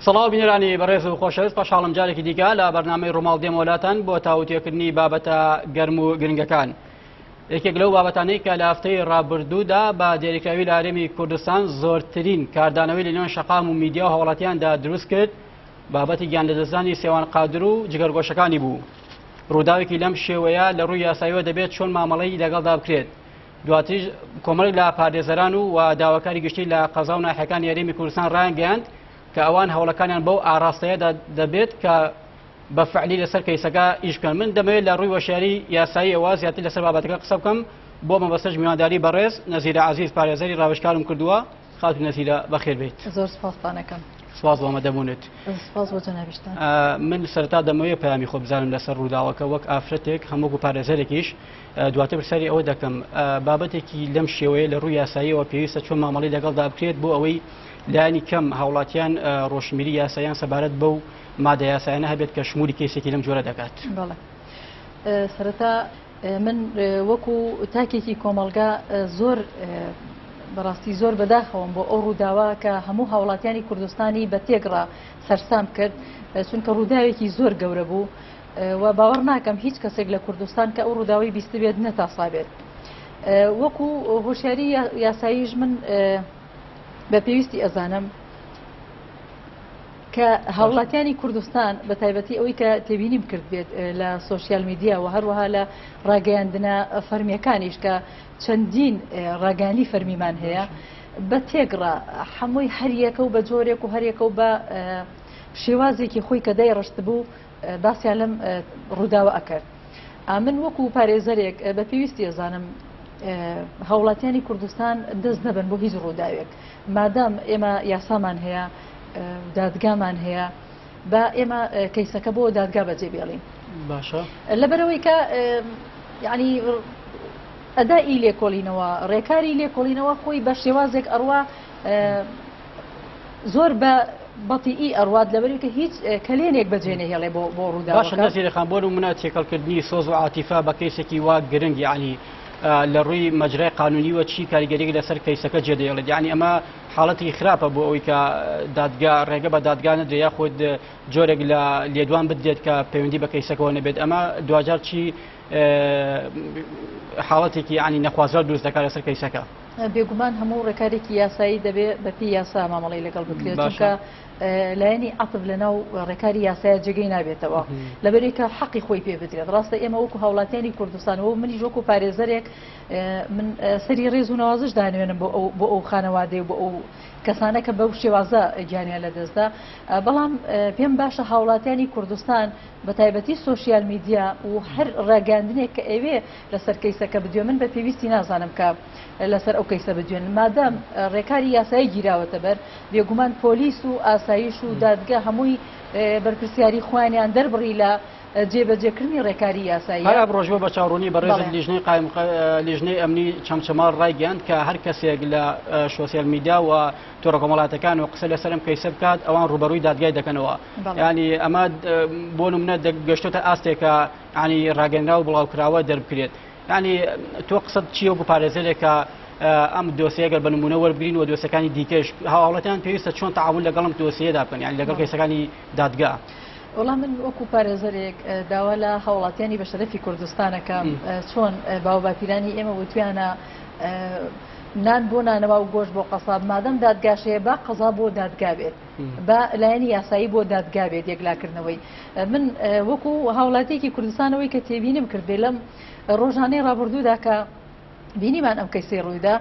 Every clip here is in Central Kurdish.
سڵاو بینرانی بەڕێز و خۆشەویست پاشاڵم جارێکی دیکە لە بەرنمەی ڕۆماڵ دێمۆلاتان بۆ تاوتێکردنی بابەتە گەرم و گرنگەکان. یەکێک لەو بابەتانەی کە لە هەفتەی ڕابردوودا بە دێریکراوی لارێمی کوردستان زۆرترین کاردانەوەی لە نێوان شقام و میدیا و هەوڵاتیاندا دروست کرد بابەتی گیان لەدەستدانی سێوان قادر و جگەرگۆشەکانی بوو. ڕووداوێکی لەم شێوەیە لە ڕووی یاساییەوە دەبێت چۆن مامەڵەی لەگەڵدا بکرێت. دواتریش کۆمەڵێک لە پارێزەران و و داواکاری گشتی لە قەزا و ناحەکانی یاریمی کوردستان ڕایانگەیاند کە ئەوان هەوڵەکانیان بەو ئاراستەیەدا دەبێت کە بە فعلی لەسەر کەیسەکە ئیش بکەن من دەمەوێت لە ڕووی وەشیاری یاساییەوە زیاتر لەسەر بابەتەکە قسە بکەم بۆ مەبەستەش میوانداری بەڕێز نەزیرە عزیز پارێزەری ڕاوشکارم کردووە خاتو نەزیرە بەخێر بێیت. زۆر سوپاستان ئەکەم. سوپاس بۆ ئامادە بوونت. سوپاس بۆ جەنابیشتان. من سەرەتا دەمەوێ پەیامی خۆ بزانم لەسەر ڕووداوەکە وەک ئافرەتێک هەم وەکو پارێزەرێکیش دواتر پرسیاری ئەوە دەکەم بابەتێکی لەم شێوەیە لە ڕووی یاساییەوە پێویستە چۆن مامەڵەی لەگەڵدا بکرێت بۆ ئەوەی لایانی کەم هاوڵاتیان ڕۆشنبیری یاسایان سەبارەت بەو مادە یاسایانە هەبێت کە شمولی کەیسێکی لەم جۆرە دەکات. بەڵێ. سەرەتا من وەکو تاکێکی کۆمەڵگا زۆر بەڕاستی زۆر بەداخەوەم بۆ ئەو ڕووداوە کە هەموو هاوڵاتیانی کوردستانی بە تێکڕا سەرسام کرد چونکە ڕووداوێکی زۆر گەورە بوو و باوەڕ ناکەم هیچ کەسێک لە کوردستان کە ئەو ڕووداوی بیستبێت نەتاسابێت وەکو هۆشیاری یاساییش من بە پێویستی ئەزانم کە هاوڵاتیانی کوردستان بە تایبەتی ئەوەی کە تێبینیم کردبێت لە سۆشیال میدیا و هەروەها لە ڕاگەیاندنە فەرمیەکانیش کە چەندین ڕاگەانی فەرمیمان هەیە بە تێگڕە هەمووی هەریەکە و بە جۆرێک و هەرێکە و بە شێوازێکی خۆی کە دای ڕشت بوو باسییان لەم ڕووداوە ئەکرد ئامن وەکو پارێزەرێک بە پێویستی ئەزانم هاوڵاتیانی کوردستان دەست نەبن بۆ هیچ ڕووداوێک مادام ئێمە یاسامان هەیە دادگامان هەیە با ئێمە کەیسەکە بۆ دادگا بەجێ بێڵین باشە لەبەرەوەی کە یعنی ئەدائی لێکۆڵینەوە ڕێکاری لێکۆڵینەوە خۆی بە شێوازێک ئەڕوا زۆر بە بەتیئی ئەروات لەبەری کە هیچ کەلێنێک بەجێنە هێڵێ بۆ بۆ ڕوودا باشە نەزیرەکان بۆ منە تێکەڵکردنی سۆز و عاتیفا بە کەیسێکی وا گرنگی علی لە ڕووی مەجرای قانونیوە چی کاریگەری لەسەر کەیسەکە جێدەێڵێت یعنی ئەمە حاڵەتی خراپە بۆ ئەوی کە دادگا ڕێگە بە دادگا نەدرێ یاخود جۆرێک لە لێدوان بدرێت کە پەیوەندی بە کەیسەکەەوە نەبێت ئەمە دواجار چی حاڵەتێکی ینی نەخوازرا دروست دەکات لەسەر کەیسەکە بێگومان هەموو ڕێکارێکی یاسایی دەبێ بەپی یاسا مامەڵی لەگەڵ بکرێت چونکە لایەنی عتب لەناو ڕێکاری یاسایە جێگەی نابێتەوە لەبەرێکە حەقی خۆی پێ بدرێت ڕاستە ئێمە وەکو هاوڵاتیانی کوردستانەوە منی ژۆک و پارێزەرێک من سەری ڕێز و نەوازش دانوێنم بۆ ئەو بۆ ئەو خانەوادەی و بۆ ئەو کەسانە کە بەو شێوازە گیانیان لەدەستدا بەڵام پێم باشە هاوڵاتیانی کوردستان بە تایبەتی سوۆسیال میدیا و هەر ڕاگەاندنێک کە ئەوێ لەسەر کەیسەکە بدوێ من بە پێویستی نازانم کە لەسەر ئەو کەیسە بدوێن مادەم ڕێکاری یاسایی گیراوەتە بەر بێگومان پۆلیس و ئاسایش و دادگە هەمووی بەرپرسیاری خوانیان دەربڕی لە جێبەجێکردنی ڕێکاری یاساییە. هەر ئەمڕۆژوە بە چاوڕوونی بەڕێزت لیژنەی قایم لیژنەی ئەمنی چەمچەماڵ ڕایگەیاند کە هەر کەسێک لە شۆسیال میدیا و تۆڕە کۆمەڵاتەکان و قسە لەسەرم کەیسە بکات ئەوان ڕوبەرووی دادگای دەکەنەوە ینی ئەمە بۆ منە گەشتۆتە ئاستێکە ینی ڕاگەنرا و بڵاوکراوە دەربکرێت ینی تۆ قسەت چیە و پارێزەرێکە ئەم دۆسیەگەر بە نمونە وەرگین و دۆسەکانی دیکەش هاوڵەتیان پێویستە چۆن تعاون لەگەڵم دۆسیەدا بکەن یان لەگەڵ کەسەکانی دادگا. وەڵا من وەکو پارێزەرێک داوا لە هاوڵاتیانی بەشەرەفی کوردستانەکەم چۆن باوباپیرانی ئێمە وتویانە نان بۆ نانەوا و گۆش بۆ قەساب مادەم دادگاشەیە با قەزا بۆ دادگابێت بە لایەنی یاسایی بۆ دادگابێت یەکلاکردنەوەی من وەکو هاوڵاتیەکی کوردستانەوەی کە تێبینم کرد بێ لەم ڕۆژانەی ڕابردوودا کە بینیمان ئەم کەیسی ڕوویدا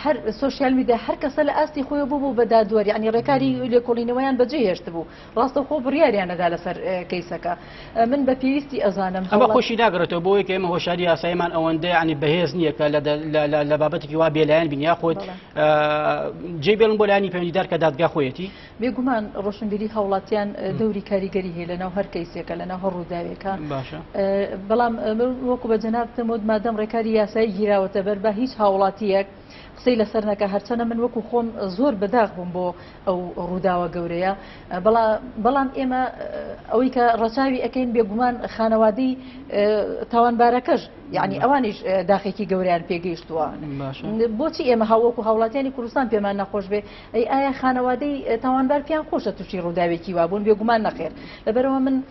هەر سوسیال میدیا هەر کەسە لە ئاستی خۆی بوو بوو بە دادوەر یعنی ڕێکاری لێکۆڵینەوەیان بەجێ هێشت بوو ڕاستەوخۆ بڕیاریان ئەدا لەسەر کەیسەکە من بە پێویستی ئەزانم ئەمە خۆشی ناگرێتەوە بۆ یەکە ئێمە هۆشاری یاسایمان ئەوەندە ینی بەهێز نییە کە لە بابەتێکی وا بێلایەن بین یاخۆت جێ بێن بۆ لایانی پەیوەندیدار کە دادگا خۆیەتی بێگومان ڕۆشنبیری هاوڵاتیان دەوری کاریگەری هەیە لەناو هەر کەیسێکە لەناو هەر ڕووداوێکە باشە بەڵام وەکو بە جەنابتەمەوت مادەم ڕێکاری یاسایی گیراوەتە بەر بە هیچ هاوڵاتیەک قسەی لەسەر نەکا هەرچەنە من وەکو خۆم زۆر بەداخ بووم بۆ ئەو ڕووداوە گەورەیە بەڵام ئێمە ئەوەی کە ڕەچاوی ئەەکەین بێگومان خانەوادەی تاوانبارەکەش یعنی ئەوانیش داخێکی گەوریان پێگەیشتووە بۆچی ئێمە هاووەکو هاوڵاتیانی کوردستان پێمان نەخۆش بێ ئەی ئایا خانەوادەی تاوانبار پێیان خۆشە تووشی ڕووداوێکی وابوون بێگومان نەخێر لەبەرەوە من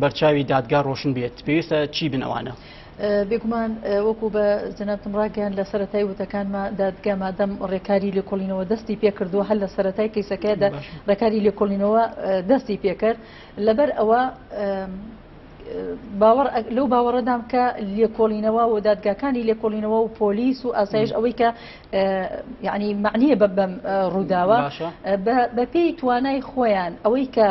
بەرچاوی دادگا ڕۆشن بێت پێویستە چی بن ئەوانە؟ بێگومان وەکو بە جەنابتم ڕاگەیان لە سەتای وتەکانمە دادگا مادەم ڕێکاری لێکۆڵینەوە دەستی پێکردووە هەر لە سەتای کەیسەکەدا ڕێکاری لێکۆڵینەوە دەستی پێکرد لەبەر ئەوە باوەڕ لەو باوەڕەدام کە لێکۆڵینەوە و دادگاکانی لێکۆڵینەوە و پۆلیس و ئاسایش ئەوەی کە یعنی معنیە بە بەم ڕووداوە بەپێی توانای خۆیان ئەوەی کە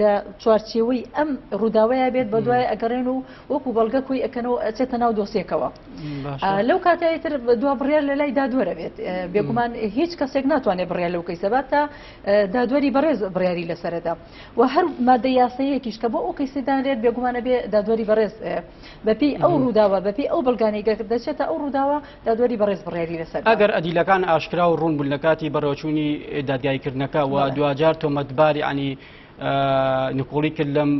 لە چوارچێوەی ئەم ڕووداوەیە بێت بە دوای ئەگەڕێن و وەکو بەڵگە کۆی ئەەکەنەوە ئەچێتە ناو دۆسیەکەەوە لەو کاتایی تر دو بڕێر لە لای دادوەرە بێت بێگومان هیچ کەسێک ناتوانێت بڕێ لەو کەی سەبات تا دادوەری بەڕێز بڕیاری لەسەردا و هەر مادە یاسەیەکیش کە بۆ ئەو کەیسدانرێت بێگومانە بێ دادوەری بەڕێز بەپی ئەو ڕووداوە بەپی ئەو بەڵگانەی گەر دەچێتە ئەو ڕووداوە دادوەری بەڕێز بڕیاری لەسەر دا. ئەگەر ئەدیلەکان ئاشکرا و ڕوون بوون لە کاتی بەڕێوەچوونی دادگاییکردنەکە و دواجار تۆمەتبار یانی نکۆڵی کرد لەم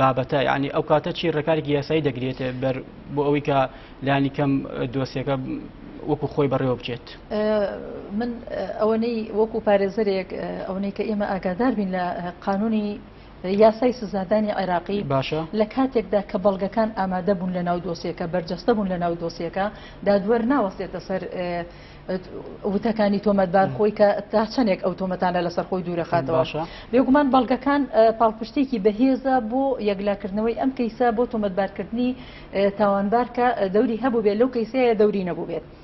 بابەتە یعنی ئەو کاتە چی ڕێکارێکی یاسایی دەگرێت بەر بۆ ئەوەی کە لانی کەم دۆسیەکە وەکو خۆی بەڕێوە بچێت من ئەوەنەی وەکو پارێزەرێک ئەوەی کە ئێمە ئاگادار بین لە قانونی یاسای سزادانی عێراقی باشە. لە کاتێکدا کە بەڵگەکان ئامادە بوون لە ناو دۆسیەکە، بەرجەستە بوون لە ناو دۆسیەکە، دادوەر ناوەستێتە سەر وتەکانی تۆمەتبار خۆی کە تا چەندێک ئەو تۆمەتانە لەسەر خۆی دوورەخاتەوە. بێگومان بەڵگەکان پاڵپشتێکی بەهێزە بۆ یەکلاکردنەوەی ئەم کەیسە بۆ تۆمەتبارکردنی تاوانبار کە دەوری هەبووبێت لەو کەیسەیە دەوری نەبووبێت.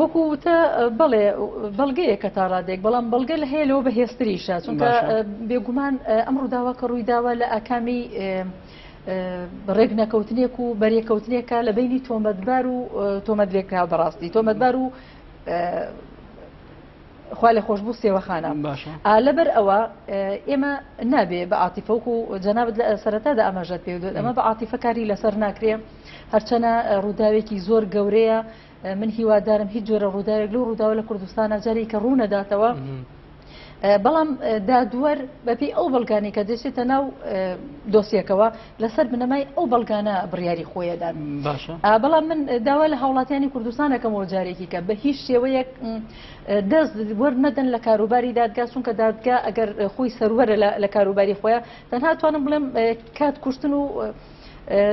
وەکو وتە بەڵێ بەڵگەیە کە تا ڕادێک بەڵام بەڵگە لە هەیە لەوە بەهێستریشە چونکە بێگومان ئەم ڕووداوە کە ڕوویداوە لە ئاکامی ڕێک نەکەوتنێک و بەرێکەوتنێکە لە بینی تۆمەتبار و تۆمەت لێکرا بەڕاستی تۆمەتبار و خوا لە خۆش بوو سێوەخانە لەبەر ئەوە ئێمە نابێ بە عاتیفەوک و جەنابەت لە سەرەتادا ئاماژەت پێ دێت ئەمە بە عاتیفەکاری لەسەر ناکرێ هەرچەنە ڕووداوێکی زۆر گەورەیە من هیوادارم هیچ جۆرە ڕووداوێک لەو ڕووداوە لە کوردستانە جارێک کە ڕوونەداتەوە بەڵام دادوەر بەپی ئەو بەڵگانی کە دەچێتە ناو دۆسیەکەوە لەسەر بنەمای ئەو بەڵگانە بڕیاری خۆیەدان بەڵام من داوا لە هاوڵاتیانی کوردستانەکەم بۆ جارێکی کە بە هیچ شێوەیەک دەست وەرمەدەن لە کاروباری دادگا چونکە دادگا ئەگەر خۆی سەروەرە لە کاروباری خۆیان تەنها توانم بڵێم کات کوشتن و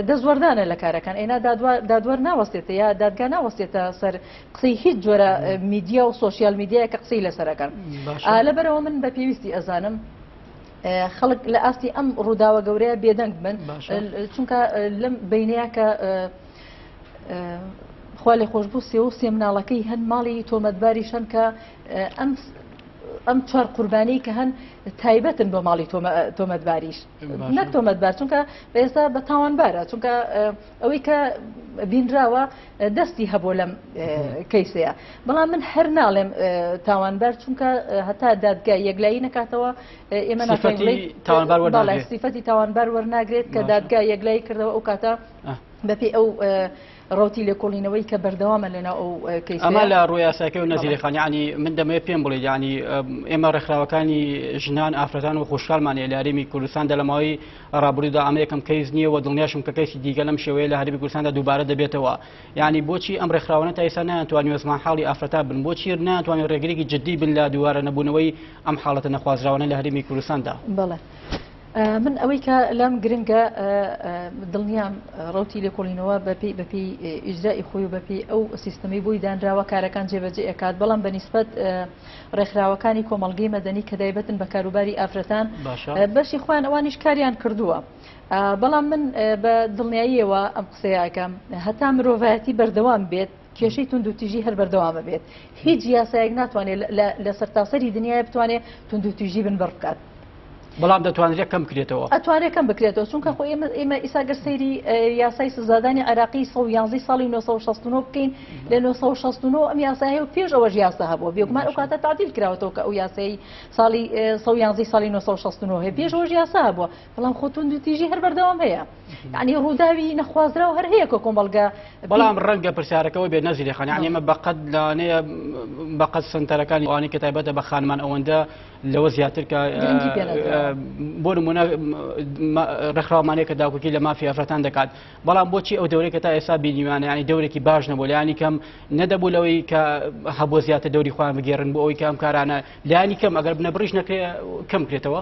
دەستوەردانە لە کارەکان ئەینا دادوەر ناوەستێتە یا دادگا ناوەستێتە سەر قسەی هیچ جۆرە میدیا و سوۆسیال میدیایە کە قسەی لەسەرەکەن لەبەرەوە من بە پێویستی ئەزانم خەڵک لە ئاستی ئەم ڕووداوە گەورەیە بێدەنگ بن چونکە لەم بینەیە کە خوا لێ خۆشببوو سێ و سێ مناڵەکەی هەن ماڵی تۆمەتباری شەن کە ئەم چوار قوربانی کە هەن تایبەتن بۆ ماڵی تۆمەتباریش نەک تۆمەتبار چونکە بەێستا بە تاوانبارە چونکە ئەوەی کە بینراوە دەستی هەبوو لەم کەیسەیە بەڵام من هەر ناڵێم تاوانبار چونکە هەتا دادگا یەکلایی نکاتەوە ئێمە سیفەتی تاوانبار وەرناگرێت کە دادگا یەکلایی کردەوە ئەو کاتە بەپی ئەو ڕەوتی لێکۆڵینەوەی کە بەردەوامە لەناو ئەو کەیسە ئەمە لە ڕووی یاساکەی و نەزیری خان یعنی من دەمەوێت پێم بڵێت یعنی ئێمە ڕێکخراوەکانی ژنان ئافرەتان و خوشحالمان لە هەرێمی کوردستان دە لەماوەی ڕابردوودا ئەمە یەکەم کەیس نییە و دڵنیاشم کە کەیسی دیگە لەم شێوەیە لە هەرێمی کوردستاندا دووبارە دەبێتەوە یعنی بۆچی ئەم ڕێکخراوانە تا ئێستا نەیانتوانی وەزمان حاڵی ئافرەتا بن بۆچی ناتوانێت ڕێگرێکی جددی بن لە دووارە نەبوونەوەی ئەم حاڵەتە نەخوازراوانە لە هەرێمی کوردستاندا بڵێ من ئەوەی کە لام گرنگە دڵنیام ڕوتی لێکۆڵینەوە بەپی بەپی ئیجرای خۆی و بەپی ئەو سیستمی بۆی دانراوە کارەکان جێبەجێ ئەکات بەڵام بە نیسبەت ڕێکخراوەکانی کۆمەلگەی مەدەنی کە دایبەتن بە کاروباری ئافرەتان بەشی خۆیان ئەوانیش کاریان کردووە بەڵام من بە دڵنیاییەوە ئەم قسەیەکەم هەتا مرۆڤایەتی بەردەوام بێت کێشەی توندوتیژی هەر بەردەوام ئەبێت هیچ یاسایەک ناتوانێت لە سەرتاسەری دنیای بتوانێت توندوتیژی بن بڕ بکات بەڵام دەتوانرێت کەم بکرێتەوە ئەتوانێت کەم بکرێتەوە چونکە خۆ ئێمە ئێمە ئیسا گەر سەیری یاسای سزادانی عراقی 111 ساڵی 1969 بکەین لە 1969 ئەم یاسای و پێش ئەوەش یاسا هەبووە بێگومان ئەو کاتە تعدیل کراوەتەوە کە ئەو یاسایی ساڵی 111 ساڵی 1969 هەیە پێش ئەوەش یاسا هەبووە بەڵام خۆ توندوتیژی هەر بەردەوام هەیە یعنی ڕووداوی نەخوازراو هەر هەیە کە کۆمەڵگە بەڵام ڕەنگە پرسیارەکەەوە بێ نەزیری خان یعنی ئمە بەقەت لانەیە بەقەت سنتەرەکانی وانی کە تایبەتە بە خانمان ئەوەندە لەوە زیاتر کە بۆ نمونە ڕێکخراومانەیە کە داکوکی لە مافی ئەفرەتان دەکات بەڵام بۆچی ئەو دەورێک کە تا ئێستا بینیوانە ینی دەورێکی باش نەبوو لایانی کەم نەدەبوو لەوەی کە هەبوو زیاتر دەوری خۆیان بگێڕن بۆ ئەوی کەم کارانە لایانی کەم ئەگەر بنە بڕیش نەکرێ کەم کرێتەوە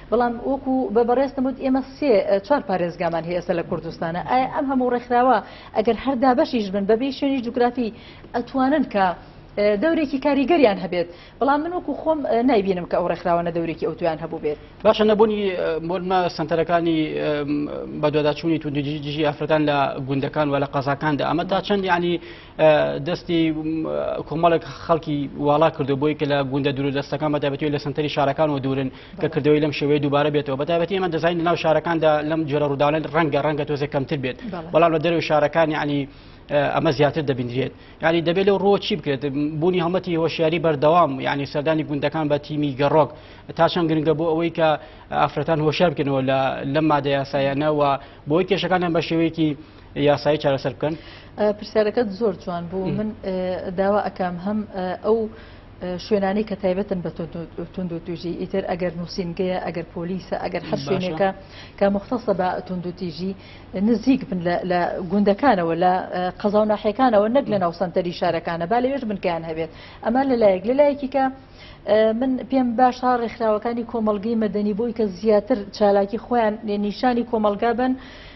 بەڵام وەکو بە بەڕێزتم وت ئێمە سێ چوار پارێزگامان هەیە ئێستا لە کوردستانە ئایا ئەم هەموو ڕێکخراوە ئەگەر هەر دابەشیش بن بەبێ شوێنی جوگرافی ئەتوانن کە اه، دەورێکی کاریگەریان هەبێت بەڵام من وەکو خۆم اه، نایبینم کە ئەو ڕێکخراوانە دەورێکی ئەوتویان هەبوو بێت باشە نەبوونی اه، مۆرمە سەنتەرەکانی ام، بەدواداچوونی توندی دژی ئافرەتان لە گوندەکان و لە قەزاکاندا ئەمە تا چەند یعنی دەستی کۆمەڵێک خەڵکی واڵا کردو بۆی کە لە گوندە دوور دەستەکان بەتابەتی لە سنتەری شارەکان و دوورن کە کردەوەی لەم شێوەیە دووبارە بێتەوە بەتابەتی ئەمە دەزین لەناو شارەکاندا لەم جۆرە ڕووداڵێن ڕەنگە ڕەنگە تۆزە کەمتر بێت بەڵام لە دەرەوە شارەکانی عنی ئەمە زیاتر دەبینرێت یاری دەبێت لەو ڕۆ چی بکرێت بوونی هەڵمەتی هۆشیاری بەردەوام یعنی سەردانی گوندەکان بە تیمی گەڕۆک تا چەند گرنگە بۆ ئەوەی کە ئافرەتان هۆشار بکەنەوە لە لەم مادە یاسایانەوە بۆی کێشەکانیان بە شێوەیەکی یاسایی چارەسەر بکەن پرسیارەکەت زۆر جوان بوو من داوا ئەکەم هەم ئەو شوێنانی کە تایبەتن بە تونند و توژی ئیتر ئەگەر نووسینگەیە ئەگەر پۆلیسە ئەگەر هەر شوێنێکە کە مختەسە بە تونند و تیژی نزیک بن لە گوندەکانەوە لە قەزا و ناحەکانەوە نەک لە ناو سنتەری شارەکانە با لەوێش بنکەیان هەبێت ئەمە لەلایەک لەلایەکی کە من پێم باشە ڕێکخراوەکانی کۆمەلگەی مەدەنی بۆی کە زیاتر چالاکی خۆیان نیشانی کۆمەلگا بن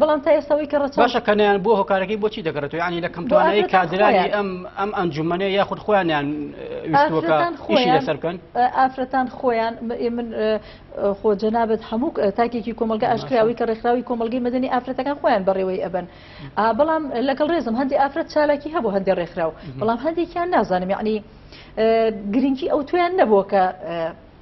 بەڵام تا ئێستا ئەوەی کە ڕەچاو باشە کە نیان بۆ هۆکارەکەی بۆچی دەگەڕێتەوە یانی لە کەمتوانایی ئافرەتان کادرانی خۆیان. ئەم ئەم ئەنجومەنێ یاخود خۆیانیان ویستوەکە ئافرەتان ئیشی خۆیان لەسەر بکەن ئافرەتان خۆیان م- ئێ من ئە، خۆ جەنابت هەموو ک- تاکێکی کۆمەڵگە ئاشکراوی کە ڕێکخراوی کۆمەڵگەی مەدەنی ئافرەتەکان خۆیان بەڕێوەی ئەبەن ئا بەڵام لەگەڵ ڕێزم هەندێک ئافرەت چالاکی هەبوو هەندێک ڕێکخراو بەڵام هەندێکیان نازانم یعنی گرنگی ئەوتۆیان نەبووە کە ئە،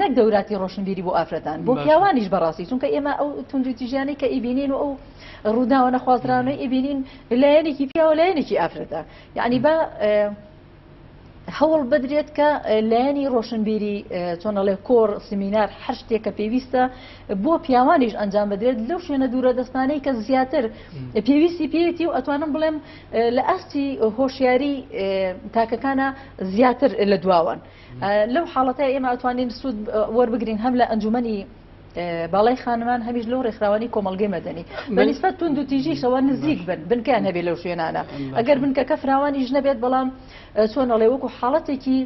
نەک دەوراتی ڕۆشنبیری بۆ ئافرەتان بۆ پیاوانیش بەڕاستی چونکە ئێمە ئەو توندوتیژیانەی کە ئیبینین و ئەو ڕووداوە نەخوازراوەی ئیبینین لایەنێکی پیاوە لایەنێکی ئافرەتە یعنی بە هەوڵ بدرێت کە لایەنی ڕۆشنبیری چۆنەڵێ کۆر سمینار هەر شتێک کە پێویستە بۆ پیاوانیش ئەنجام بدرێت لەو شوێنە دوورە دەستانەی کە زیاتر پێویستی پێێتی و ئەتوانم بڵێم لە ئاستی هۆشیاری تاکەکانە زیاتر لە دواوان. لەو حاڵەتەی ئێمە ئەتوانین سوود وەربگرین هەم لە ئەنجومەنی باڵای خانمان هەمیش لەو ڕێکخراوانی کۆمەلگەی مەدەنی بەنیسبەت تون دو تیژیشەوە نزیک بن بنکەیان هەبێ لەو شوێنانە ئەگەر بنکەکە فراوانیش نەبێت بەڵام چۆنەڵێ وەکو حاڵەتێکی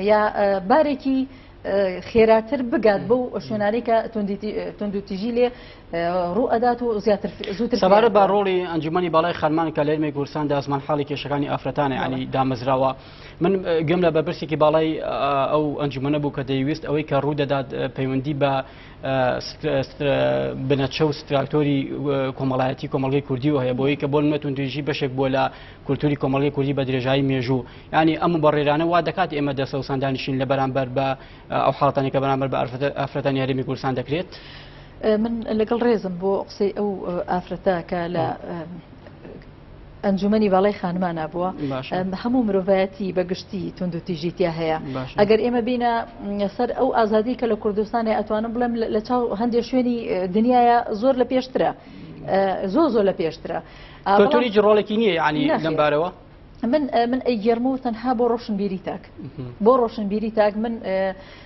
یا بارێکی خێراتر بگات بەو شوێنانی کە تونند و تیژی لێ ڕوو ئەدات و زیاتر زووتر سەبارە بە ڕۆڵی ئەنجومی باڵای خەرمان کە لەێرمێک گورسان داسمان حاڵی کێشەکانی ئافرەتانی عنی دامەزراوە. من گەم لە بەرپرسێکی باڵای ئەو ئەنجومەنە بوو کە دەیویست ئەوەی کە ڕوو دەدات پەیوەندی بە بنەچە و ستراکتۆری کۆمەڵایەتی کۆمەڵگەی کوردی و هەیە بۆی کە بۆ نەتون دژی بەشێک بۆ لە کولتوری کۆمەڵی کوردی بە درێژایی مێژوو ینی ئەم بەڕێرانە وا دەکات ئێمە دەسە و سندانیشین لە بەرامبەر بە ئەو حڵاتانی کە بەرامبەر بە ئەفرەتان یاریمی کوردستان دەکرێت من لەگەڵ ڕێزم بۆ قسەی ئەو ئافرەتە کە لە ئەنجومەنی باڵای خانمانە بووە هەموو مرۆڤایەتی بە گشتی توندوتیژی تیا هەیە ئەگەر ئێمە بینە سەر ئەو ئازادی کە لە کوردستانی ئەتوانم بڵێم لە چاو هەندێک شوێنی دنیاە زۆر لە پێشترە زۆ زۆر لە پێشترە کلتوری جڕۆڵێکی نییە ینی لەمبارەوە من من ئەی گێرمە و تەنها بۆ ڕۆشنبیری تاک بۆ ڕۆشنبیری تاک من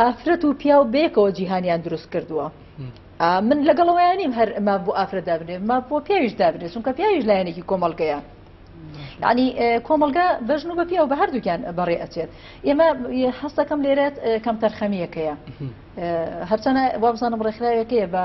ئافرەت و پیاو بەیەکەوە جیهانیان دروست کردووە من لەگەڵەوەیانیم هەر ماف بۆ ئافرە دابنێ ماف بۆ پیاویش دابنێ چونکە پیاویش لایەنێکی کۆمەلگەیە ینی کۆمەلگا بەژن و بە پیاو بە هەردووکیان بەڕێ ئەچێت ئێمە حەستەکەم لێرێت کەم تەرخەمیەکەیە هەرچەنە وابزانم ڕێکخراوێکەیە بە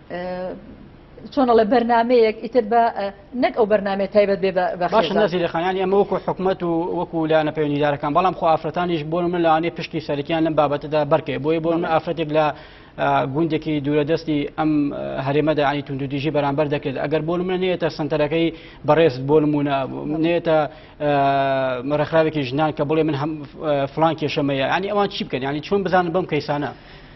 چۆن ئەڵێ بەرنمەیەک ئیتر بە نەک ئەو بەرنمێ تایبەت بێ باش نازی لەخانیان ئەمە وەکو حکوومەت و وەکو لایەنە پەیوەندیدارەکان بەڵام خۆ ئافرەتانیش بۆ من لەوانێ پشتی سەرکیان لەم بابەتەدا بەرکێ بۆی بۆ من ئافرەتێک لە گوندێکی دوورەدەستی ئەم هەرێمەدا ئەنی توندودیژی بەرامبەر دەکرێت ئەگەر بۆ منە نێتە سنتەرەکەی بەڕێز بۆ نمونە نێتە مەرەخراوێکی ژنان کە بڵێ من فلان کێشەمەیە ینی ئەوان چی بکەن ینی چۆن بزانن بەم کەیسانە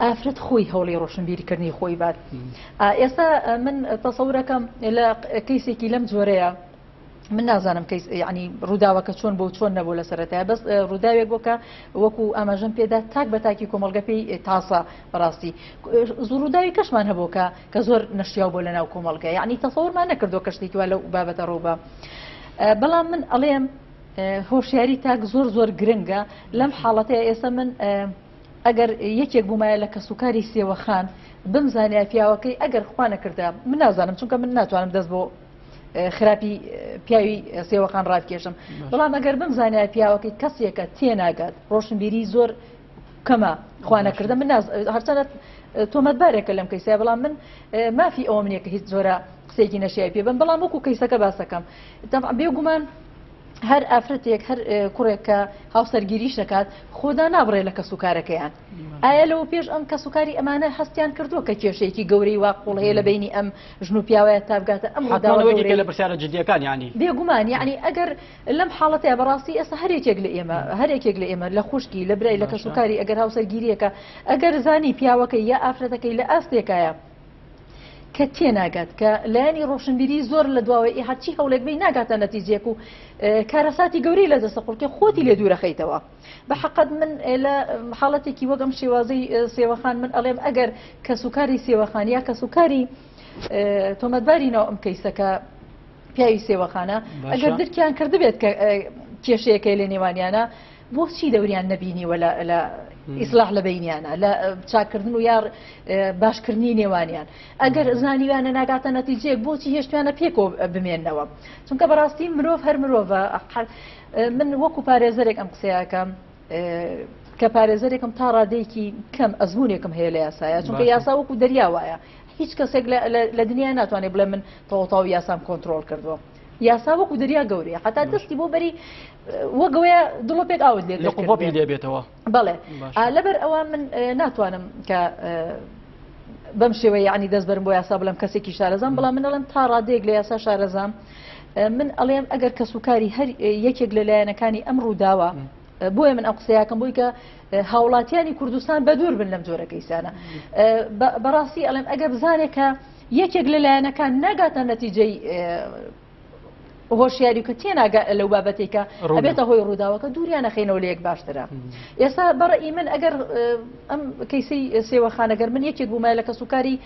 ئافرەت خۆی هەوڵی ڕۆشنبیری کردنی خۆی بات ئا ئێستا من تەسەورەکەم لە کەیسێکی لەم جۆرەیە من نازانم کەیس ینی ڕووداوەکە چۆن بۆ چۆن نەبوو لە سەرەتای بەس ڕووداوێک بۆ کە وەکو ئاماژەم پێدا تاک بە تاکی کۆمەلگە پێی تازە بەڕاستی زڕووداوی کەشمان هەبووکە کە زۆر نشیا بۆ لە ناو کۆمەلگە یعنی تەسەورمان نەکردو کەشتێکی وا لە بابەتە ڕووبە بەڵام من ئەڵێم هۆشیاری تاک زۆر زۆر گرنگە لەم حاڵەتەیە ئێستا من ئەگەر یەکێک بوومایە لە کەسوکاری سێوەخان، بمزانیایە پیاوەکەی، ئەگەر خوا نەکردە، من نازانم، چونکە من ناتوانم دەست بۆ خراپی پیاوی سێوەخان ڕابکێشم، بەڵام ئەگەر بمزانیایە پیاوەکەی کەسێکە تێناگات، ڕۆشنبیریی زۆر کەمە، خوا نەکردە، من نازانم، هەرچەندە تۆمەتبارێکە لەم کەیسە، بەڵام من مافی ئەوەم نییە کە هیچ جۆرە قسەیەکی نەشیاوی پێ بم، بەڵام وەکو کەیسەکە باس دەکەم، تەبعەن بێگومان، هەر ئافرەتێک هەر کوڕێک کە هاوسەرگیریش دەکات خۆدا نابڕێ لە کەس و کارەکەیان ئایا لەوە پێش ئەم کەس و کاری ئەمانە هەستیان کردووە کە کێشەیەکی گەورەی وا قوڵ هەیە لە بینی ئەم ژن و پیاوەیە تابگاتە ئەم لە پرسیارە جدیەکان ینی بێگومان یعنی ئەگەر لەم حاڵەتە بەڕاستی ئێستا هەرێکێک لە ئێمە هەرێکێک لە ئێمە لە خوشکی لە برای لە کەس و کاری ئەگەر هاوسەرگیریەکە ئەگەر زانی پیاوەکە یا ئافرەتەکەی لە ئاستێکایە کە تێناگات کە لایەنی ڕۆشنبیری زۆر لە دواوەی ئی هەرچی هەوڵێک بی ناگاتە نەتیجێک و کارەساتی گەورەی لە دەستە قوڵکە خۆتی لێ دوورەخەیتەوە بە حقت من لە حاڵەتێکی وەگەم شێوازی سێوەخان من ئەڵێم ئەگەر کەس و کاری سێوەخان یا کەس و کاری تۆمەتباری ناو ئەم کەیسەکە پیاوی سێوەخانە ئەگەر درکیان کردبێت کە کێشەیەەکەی لە نێوانیانە بۆچی دەوریان نەبینیوە لە لە ئیسلاح لە بینیانە لە چاکردن و یا باشکردنی نێوانیان ئەگەر زانیویانە ناگاتە نەتیجەیەک بۆچی هێشتوانە پێکۆ بمێنەوە چونکە بەڕاستی مرۆڤ هەر مرۆڤە من وەکو پارێزەرێک ئەم قسەیەکەم کە پارێزەرێکم تا ڕادەیەکی کەم ئەزمونێکم هەیە لە یاسایە چونکە یاسا وەکو دەریا وایە هیچ کەسێک لە دنیا ناتوانێت بڵێ من تەواو یاسام کۆنتترۆل کردووە یاسا وەکو دەریا گەورەیە حتا دەستی بۆ بەری وەگەوەیە دڵۆ پێک ئاوت لێ قوپی لێبێتەوە بڵێ لەبەر ئەوە من ناتوانم کە بەم شێوە یعنی دەست بەرم بۆ یاسا بڵم کەسێکی شارەزان بڵام من ئەڵم تا ڕادێک لە یاسا شارەزام من ئەڵێم ئەگەر کەس و کاری هەر یەکێک لە لایەنەکانی ئەم ڕووداوە بۆیە من ئەو قسەیەکەم بۆی کە هاوڵاتیانی کوردستان بە دوور بن لەم جۆرە کەیسانە بەڕاستی ئەڵێم ئەگە بزانێکە یەکێک لە لایەنەکان ناگاتە نەتیجەی هۆشیاری کە تێناگە لەو بابەتی کە ئەبێتە هۆی ڕووداوەکە دووریانەخینەوە لە یەک باشترە ئێستا بەڕە ئیمن ئەگەر ئەم کەیسی سێوەخانەگەر من یەکێک بوومە لە کەسوکاری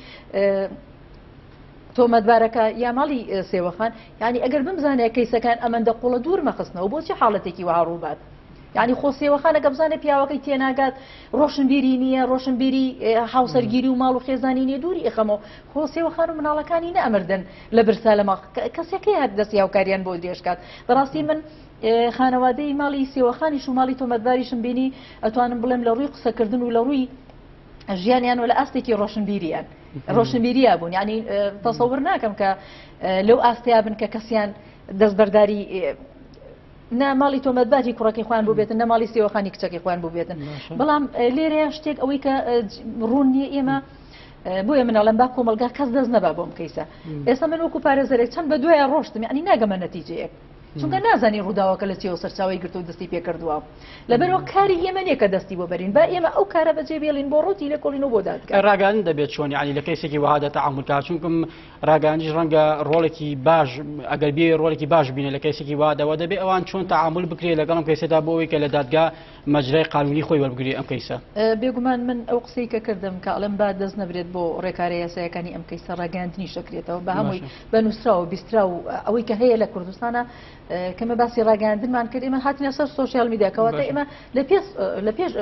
تۆمەتبارەکە یا ماڵی سێوەخان ینی ئەگەر بمزانێت کەیسەکان ئەمەندە قوڵە دوور مەخستنەوە بۆچی حاڵەتێکی وها ڕووبات یانی خۆ سێوەخانە کە بزانێ پیاوەکەی تێناگات ڕۆشنبیری نییە ڕۆشنبیری هاوسەرگیری و ماڵ و خێزانی نیە دووری ئەخەمەوە خۆ سێوەخان و مناڵەکانی نەمردن لە برسا لە ماڵ کەسەکەی هەر دەستی هاوکاریان بۆ درێژکات بەڕاستی من خانەوادەی ماڵی سێوەخانی شوماڵی تۆمەتباریشم بینی ئەتوانم بڵێم لە ڕووی قسەکردن و لە ڕووی ژیانیان و لە ئاستێکی ڕۆشنبیریان ڕۆشنبیریا بوون ینی تەسەور ناکەم کە لەو ئاستیا بن کە کەسیان دەستبەرداری نە ماڵی تۆمەتباری کوڕەکەی خۆیان بووبێتن نە ماڵی سێوەخانی کچەکەی خۆیان بووبێتن بەڵام لێرەیە شتێک ئەوەی کە ڕوون نییە ئێمە بۆیە منەڵم با کۆمەلگا کەس دەست نەبا بۆم کەیسە ئێستا من وەکو پارێزەرێک چەند بە دوایە ڕۆشتم ینی ناگەمە نەتیجەیەک چونکە نازانی ڕووداوەکە لە چێوە سەرچاوی گرتو دەستی پێکردووە لەبەرەوە کاری ئێمە نیە کە دەستی بۆ بەرین با ئێمە ئەو کارە بەجێ بێڵین بۆ ڕوتی لە کۆڵینەوە بۆ دادگە ڕاگەن دەبێت چۆنی علی لە کەسێکی وهادە تعاملکە چونکم ڕاگەیاندیش ڕەنگە ڕۆڵێکی باش ئەگەر بێ ڕۆڵێکی باش بینە لە کەسێکی وادەوە دەبێ ئەوان چۆن تعامل بکرێت لەگەڵم کەسێدا بۆ ئەوی کە لە دادگا مەجرای قانونی خۆی وەربگری ئەم کەیسە بێگومان من ئەو قسەی کە کردم کە ئەڵم با دەست نەبرێت بۆ ڕێکارە یاسایەکانی ئەم کەیسە ڕاگەاندنی شەکرێتەوە بە هەمووی بە نووسرا و بیسترا و ئەوەی کە هەیە لە کوردستانە کەمە باسی ڕاگەاندنمان کرد ئمە هاتنە سەر سوسیال میدیاکەوە ئمە لە پێش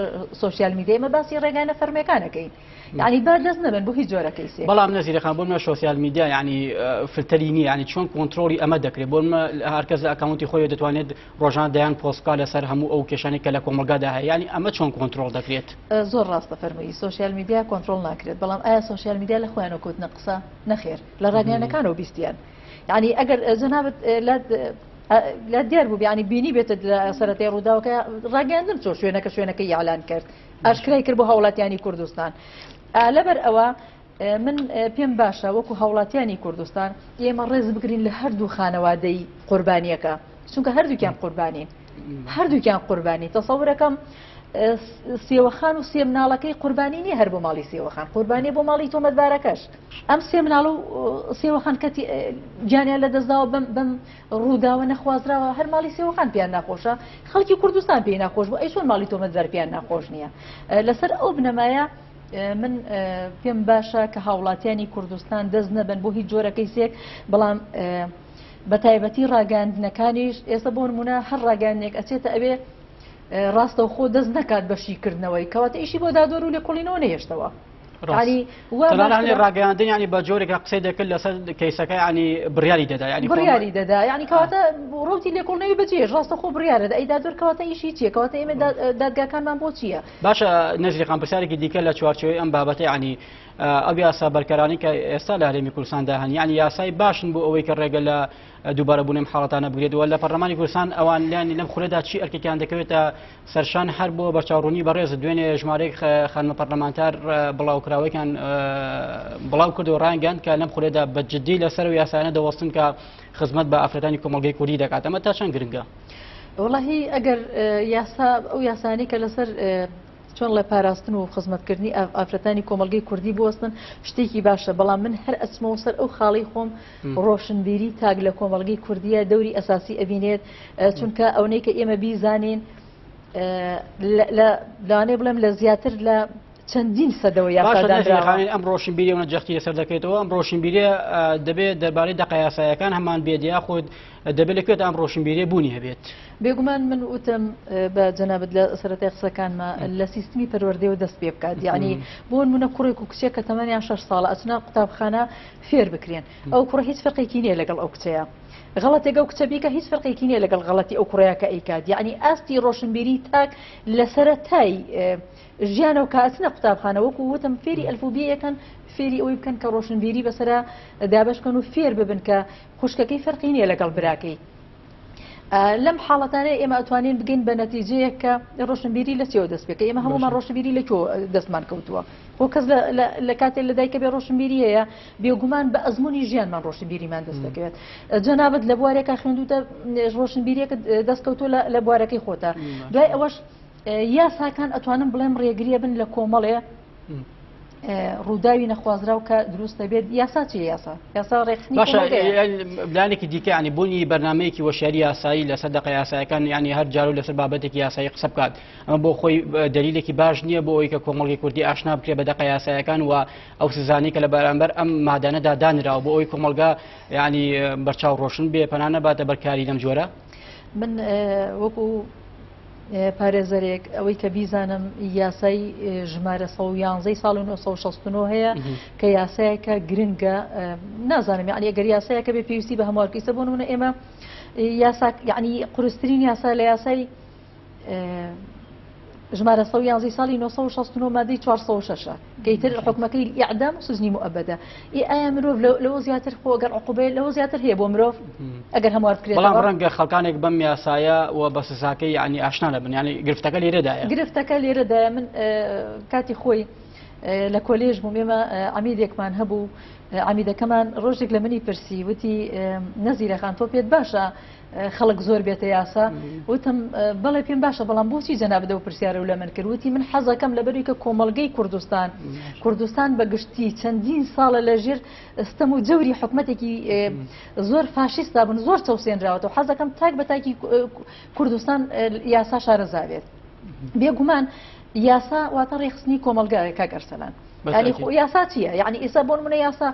سوسیال میدیمە باسی ڕێگانە فەرمەکانەکەین یانی بەر دەست نەبەن بۆ هیچ جۆرە کەیسێک. بەڵام نەزیرە خان بۆ منە شۆسیال میدیا یانی فلتەری نییە یانی چۆن کۆنتترۆڵی ئەمە دەکرێت بۆ منە هەرکەس لە ئەکاونتی خۆی دەتوانێت ڕۆژان دەیان پۆستکا لەسەر هەموو ئەو کێشانی کە لە کۆمەلگادا هەیە یانی ئەمە چۆن کۆنتترۆل دەکرێت زۆر ڕاستە فەرمووی سوسیال میدیا کۆنتترۆل ناکرێت بەڵام ئایا سوسیال میدیا لە خۆیانە کۆتنە قسە نەخێر لە ڕاگەیانەکانەوە بیستیان یعنی ئەگەر جەنابەت لە دیار بوو بیانی بینی بێتە سەرەتەی ڕووداوەکە ڕاگەاندن چۆ شوێنەکە شوێنەکە یالان کرد ئاشکرای کرد بۆ هاوڵاتیانی کوردستان لەبەر ئەوە من پێم باشە وەکو هاوڵاتیانی کوردستان ئێمە ڕێز بگرین لە هەردوو خانەوادەی قوربانیەکە چونکە هەردووکیان قوربانین هەردووکیان قوربانی تەسەورەکەم سێوەخان و سێ مناڵەکەی قوربانی نیە هەر بۆ ماڵی سێوەخان قوربانێ بۆ ماڵی تۆمەتبارەکەش ئەم سێ مناڵ و سێوەخان کەتی گیانیان لە دەستداوە بم بم ڕووداوە نەخوازراوە هەر ماڵی سێوەخان پێیان ناخۆشە خەڵکی کوردستان پێی ناخۆش بوو ئەی چۆن ماڵی تۆمەتبار پێیان ناخۆش نییە لەسەر ئەو بنەمایە من پێم باشە کە هاوڵاتیانی کوردستان دەست نەبن بۆ هیچ جۆرەکەی سێک بەڵام بە تایبەتی ڕاگەاندنەکانیش ئێستا بۆ نمونە هەر ڕاگەاندێک ئەچێتە ئەوێ ڕاستەوخۆ دەست نەکات بە شیکردنەوەی کەواتە ئیشی بۆ دادۆر و لێکۆڵینەوە نەهێشتەوە ڕاگەاندنیانی بە جۆرێکە قسەی دەکرد لەسەر کەیسەکە ینی بڕیاری دەدا ینی بڕیاری دەدا ینی کەواتە ڕوتی لێکۆڵنەوی بەجێ ڕاستە خۆ بڕیارە ئەیدا زۆر کەواتە ئیشی چیە کەواتە ئێمە دادگاکانمان بۆ چییە باشە نەزیقان پرسیارێکی دیکە لە چوارچەوەی ئەم بابەتی ینی ئەو یاسا بەرکەرانی کە ئێستا لە هەرێمی کوردستاندا هەن ینی یاسای باشن بۆ ئەوەی کە ڕێگە لە دووبارەبوونم حاڵەتانە بگرێتەوە لە پەرلەمانی کوردستان ئەوان لانی لەم خولەدا چی ئەرکێکیان دەکەوێتە سەرشان هەر بۆ بەرچاوڕوونی بەڕێز دوێنێ ژمارەیەک خانمە پەرلەمانتار بڵاوکراوەیان بڵاو کرد و ڕانگەند کە لەم خولێدا بە جددی لەسەر و یاسانە دەوەستن کە خزمەت بە ئافرەتانی کۆمەڵگەی کوردی دەکات ئەمە تا چەند گرنگە وڵی ئەگەر یاسا ئەو یاسانی کە لەسەر چۆن لە پاراستن و خزمەتکردنی ئافرەتانی کۆمەلگەی کوردی بوەستن شتێکی باشە بەڵام من هەر ئەسمەوە سەر ئەو خاڵی خۆم ڕۆشنبیری تاک لە کۆمەڵگەی کوردیە دەوری ئەساسی ئەبینێت چونکە ئەونەی کە ئێمە بیزانین لانێ بڵێم لە زیاتر لە چەندین سەدەوە یاخانی ئەم ڕۆشنبیریەوە جەختی لەسەر دەکەێتەوە ئەم ڕۆشنبیرە دەبێت دەربارەی دەقەیاسایەکان هەمان بێت یاخود دەبێت لەکوێت ئەم ڕۆشنبیری بوونی هەبێت بێگومان من وتم بە جەنابەت لە سەرەتی قسەکانمە لە سیستمی پەروەردەوە دەست پێ بکات یعنی بۆن منە کوڕێک و کچێک کە تەمەنیان شش ساڵە ئەچنا قوتابخانە فێر بکرێن ئەو کوڕە هیچ فەرقێکی نیە لەگەڵ ئەو کچەیا غەڵەتێک ئەو کچە بیکە هیچ فەرقێکی نیە لەگەڵ غەڵەتی ئەو کوڕەیە کە ئەیکات یعنی ئاستی ڕۆشنبیری تاک لە سەرەتای ژیانە و کاتنە قوتابخانە وەکو وتم فێری ئەلفوبیەکەن فێری ئەوی بکەن کە ڕۆشنبیری بەسرە دابشکەن و فێر ببن کە خوشکەکەی فەرقی نیە لەگەڵ براکەی لەم حاڵەتانە ئێمە ئەتوانین بگەین بە نەتیجەیە کە ڕۆشنبیری لە چێوە دەست پێکە ئێمە هەمومان ڕۆشنبیری لە کۆ دەستمان کەوتووە بۆ کەس لە کاتێک لە دایکە بێ ڕۆشنبیری هەیە بێگومان بە ئەزمموی ژیانمان ڕۆشنبیریمان دەست دەکەوێت جەنابەت لە بوارێکە خوێندوتە ڕۆشنبیریەکە دەستکەوتو لە بوارەکەی خۆتە دوای ئەوەش یاساکان ئەتوانم بڵێم ڕێگریە بن لە کۆمەڵێ ڕووداوی نەخوازراو کە دروست دەبێت یاسا چی یاسا یاسا ڕێکخنیلانێکی دیکەیانی بوونی بەرنمەیەکی وەشاری یاسایی لەسەر دەق یاسایەکان ینی هەر جار و لەسەر بابەتێکی یاسایی قسە بکات ئەمە بۆ خۆی دلیلێکی باش نییە بۆ ئەوی کە کۆمەڵی کوردی ئاشنا بکرێ بە دەق یاسایەکان و ئەو سزانانی کە لە بەرامبەر ئەم مادانەدا دانراوە بۆ ئەوی کۆمەلگا ینی بەرچاو ڕۆشن بێ پەنانە باتە بەرکاری لەم جۆرە من وەکو پارێزەرێک، ئەوەی کە بیزانم یاسای ژمارە سەد و یانزە ی ساڵی نۆ سەد و شەست و نۆ هەیە کە یاسایەکە گرنگە، نازانم یانی ئەگەر یاسایەکە بێ پێویستی بە هەموارکەیسە بۆ نمونە ئێمە یاسا یعنی قورسترین یاسا لە یاسای ژمارە سەد و یانزە ی ساڵی نۆ سەد و شەست و نۆ مادەی چوار سەد و شەش ئیتر حوکمەکەی ئیعدام و سجنی موئەبەدە ئێ ئایا مرۆڤ لەوە زیاتر خۆ گەر عقوبەیە لەوە زیاتر هەیە بۆ مرۆڤ ئەگەر هەموار بکرێت بەڵام ڕەنگە خەڵکانێک بەم یاسایە و بە سزاکەی یعنی ئاشنا نەبن یعنی گرفتەکە لێرەدایە گرفتەکە لێرەدایە من کاتی خۆی لە کۆلێژ بووم ئێمە عمیدێکمان هەبوو عمیدەکەمان ڕۆژێک لە منی پرسی وتی نەزیرەخان تۆ پێت باشە خەڵک زۆر بێتە یاسا وتم بەڵێ پێم باشە بەڵام بۆچی جەنابدە و پرسیارە و لە من کرد وتی من حەزەکەم لە بەروی کە کۆمەلگەی کوردستان کوردستان بەگشتی چەندین ساڵە لە ژێر ستەم و جەوری حکوومەتێکی زۆر فاشیستا بن زۆر چەوسێنراوەەوە حەزەکەم تاک بە تاکی کوردستان یاسا شارەزاوێت بێگومان یاسا واتە ڕێخستنی کۆمەلگایە کاگەرسەلان. یاسا چیە یعنی ئێسا بۆن منە یاسا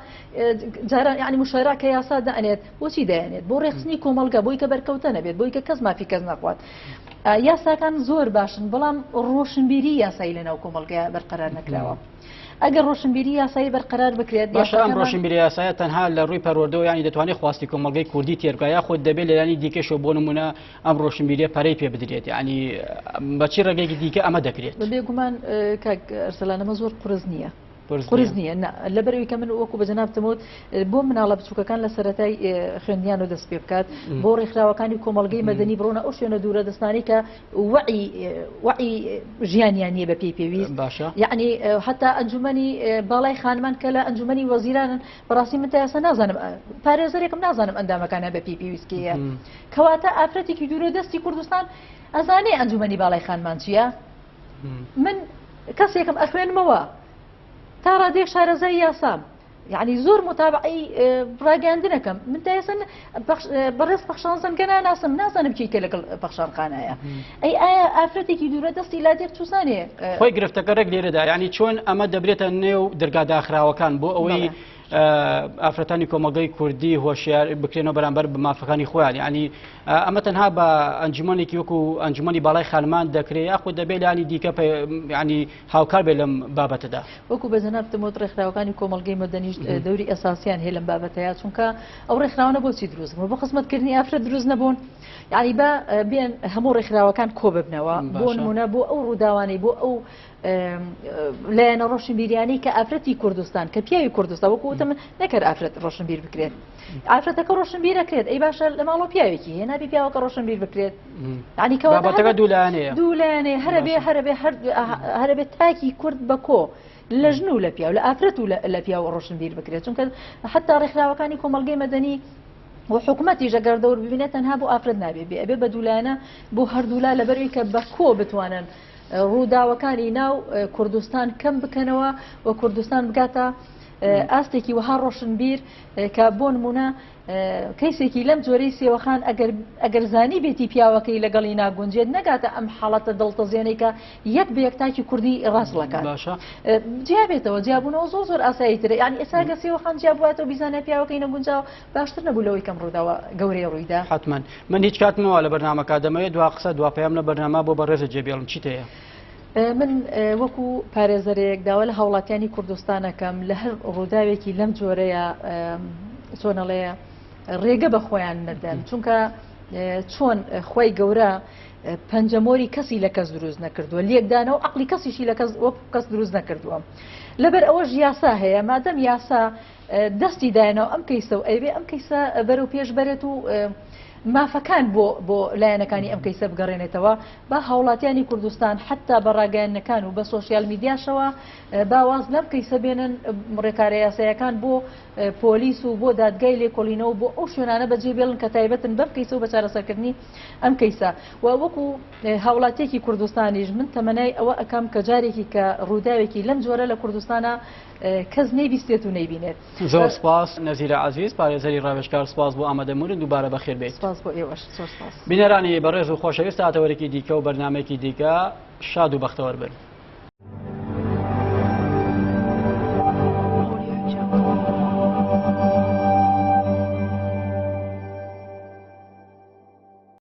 جاران یعنی مشارا کە یاسا دەنێت بۆچی دەیانێت بۆ ڕێخستنی کۆمەڵگە بۆی کە بەرکەوتە نەبێت بۆی کە کەس مافی کەس نەخوات یاساکان زۆر باشن بەڵام ڕۆشنبیری یاسایی لەناو کۆمەلگەیە بەرقەرار نەکراوە ئەگەر ڕۆشنبیری یاسایی بەرقەرار بکرێت باشان ڕۆشنبیری یاسایە تەنها لە ڕووی پەروەردەوە ینی دەتوانێت خواستی کۆمەلگەی کوردی تێرگا یا خۆت دەبێت لەلانی دیکەشەوە بۆ نمونە ئەم ڕۆشنبیریە پەرەی پێ بدرێت ینی بەچی ڕێگەێکی دیکە ئەمە دەکرێت بێگومان کاک ئەرسەلانەمە زۆر قرس نییە قورس نییە؟ نا، لەبەرئەوەی کە من وەکو بە جەنابتم وت بۆ مناڵە بچووکەکان لە سەرەتای خوێندنیانەوە دەست پێ بکات، بۆ ڕێکخراوەکانی کۆمەڵگەی مەدەنی بڕۆنە ئەو شوێنە دوورە دەستانەی کە وەعی وەعی ژیانیان نییە بەپێی پێویست، باشە یەعنی هەتا ئەنجوومەنی باڵای خانمان کە لە ئەنجوومەنی وەزیرانن، بەڕاستی من تا ئێستا نازانم پارێزەرێکم نازانم ئەندامەکانیان بەپێی پێویست کێیە؟ کەواتە ئافرەتێکی دوورە دەستی کوردستان ئەزانێ ئەنجوومەنی باڵای خانمان چییە؟ من کەسێکم ئەخوێنمەوە تا ڕادێک شارەزای یاسام یعنی زۆر متابعی ڕاگەاندنەکەم من دایسن بەڕێز پەخشانزم گەنا ناسم نازانم چیکە لەگەڵ پەخشان خانایە ئەی ئایا ئافرەتێکی دوورە دەستی لا دێک تووسانێ خۆی گرفتەکە ڕێک لێرەدا ینی چۆن ئەمە دەبرێتە نێو دەرگا داخراوەکان بۆ ئەوەی ئافرەتانی کۆمەڵگەی کوردی هۆشیار بکرێنەوە بەرامبەر بە مافەکانی خۆیان ینی ئەمە تەنها بە ئەنجومەنێکی وەکو ئەنجومنی باڵای خانمان دەکرێت یاخۆ دەبێت لانی دیکە ینی هاوکار بێ لەم بابەتەدا وەکو بە جەنابتمۆت ڕێکخراوەکانی کۆمەلگەی مەدەنیشت دەوری ئەساسیان هەیە لەم بابەتەیە چونکە ئەو ڕێکخراوانە بۆچی دروست بۆ خزمەتکردنی ئافرە دروست نەبوون یعنی بە بێن هەموو ڕێکخراوەکان کۆ ببنەوە بۆ نمونە بۆ ئەو ڕووداوانی بۆ ئەو لایەنە ڕۆشنبیریانی کە ئافرەتی کوردستان کە پیاوی کوردستان وەکو وتم نەکەر ئافرەت ڕۆشنبیر بکرێت ئافرەتەکە ڕۆشنبیرەکرێت ئەی باشە لە ماڵۆ پیاوێکی هێنابی پیاوەکە ڕۆشنبیر بکرێت ینی کەواتەکە دوولانێ دوولانێ هەربێ هەربێ هەربێت تاکی کورد بە کۆ لە ژن و لە پیاو لە ئافرەت و لە پیاو ڕۆشنبیر بکرێت چونکە حتا ڕێکخراوەکانی کۆمەلگەی مەدەنی و حکوومەتی ژەگەر دەور ببینێت تەنها بۆ ئافرەت نابێ بێ ئەبێ بە دوولایەنە بۆ هەردوولا لەبەروی کە بە کۆ بتوانن ڕووداوەکانی ناو کوردستان کەم بکەنەوە و کوردستان بگاتە ئاستێکی وەها ڕۆشنبیر کە بۆ نمونە کەیسێکی لەم جۆرەی سێوەخان ئەگەر زانی بێتی پیاوەکەی لەگەڵی ناگونجێت نەگاتە ئەم حاڵەتە دڵتەزیێنەی کە یەک بە یەکتاکی کوردی ڕاستڵەکان باشە جیابێتەوە جیاببوونەوە زۆ زۆر ئاسایی ترە ینی ئێساگە سێوەخان جیاباتەوە بیزانە پیاوەکەی نەگونجاو باشتر نەبوو لەوەی کەم ڕووداوە گەورەی ڕوویدا. حەتمەن من هیچ کات مەوە لە بەرنامەکە دەمەوێت دوا قسە دوا پەیام لە بەرنامە بۆ بەڕێزە جێبێڵم چیت هەیە؟ من وەکو پارێزەرێک داوا لە هاوڵاتیانی کوردستانەکەم لە هەر ڕووداوێکی لەم جۆرەیە چۆنەڵێ ڕێگە بە خۆیان نەدەن چونکە چۆن خی گەورە پەنجەمۆری کەسی لە کەس دروست نەکردووە لەکدانە و عقلی کەسیشی لە کەس کەس دروست نەکردووە لەبەر ئەوەش یاسا هەیە مادەم یاسا دەستی دایە ناو ئەم کەیسە و ئەیەوێ ئەم کەیسە بەرەو پێش بەرێت و مافەکان بۆ بۆ لایەنەکانی ئەم کەیسە بگەڕێنێتەوە با هاوڵاتیانی کوردستان حتا بە ڕاگەیانەکان و بە سۆسیال میدیاشەوە باواز لەم کەیسە بێنن ڕێکارە یاسایەکان بۆ پۆلیس و بۆ دادگای لێکۆڵینەوە بۆ ئەو شوێنانە بەجێ بێڵن کە تایبەتن بەم کەیسە و بەچارەسەرکردنی ئەم کەیسە و وەکو هاوڵاتیەکی کوردستانیش من تەمەنای ئەوە ئەەکەم کە جارێکی کە ڕووداوێکی لەم جۆرە لە کوردستانە کەس نەیبیستێت و نەیبینێت. زۆر سپاس نەزیرە عەزیز پارێزەری ڕاوێژکار سپاس بۆ ئامادەبوونت دووبارە بەخێر بێیت. سپاس بۆ ئێوەش زۆر سپاس. بینەرانی بەڕێز و خۆشەویست تا ئەتەوەرێکی دیکە و بەرنامەیەکی دیکە شاد و بەختەوەر بن.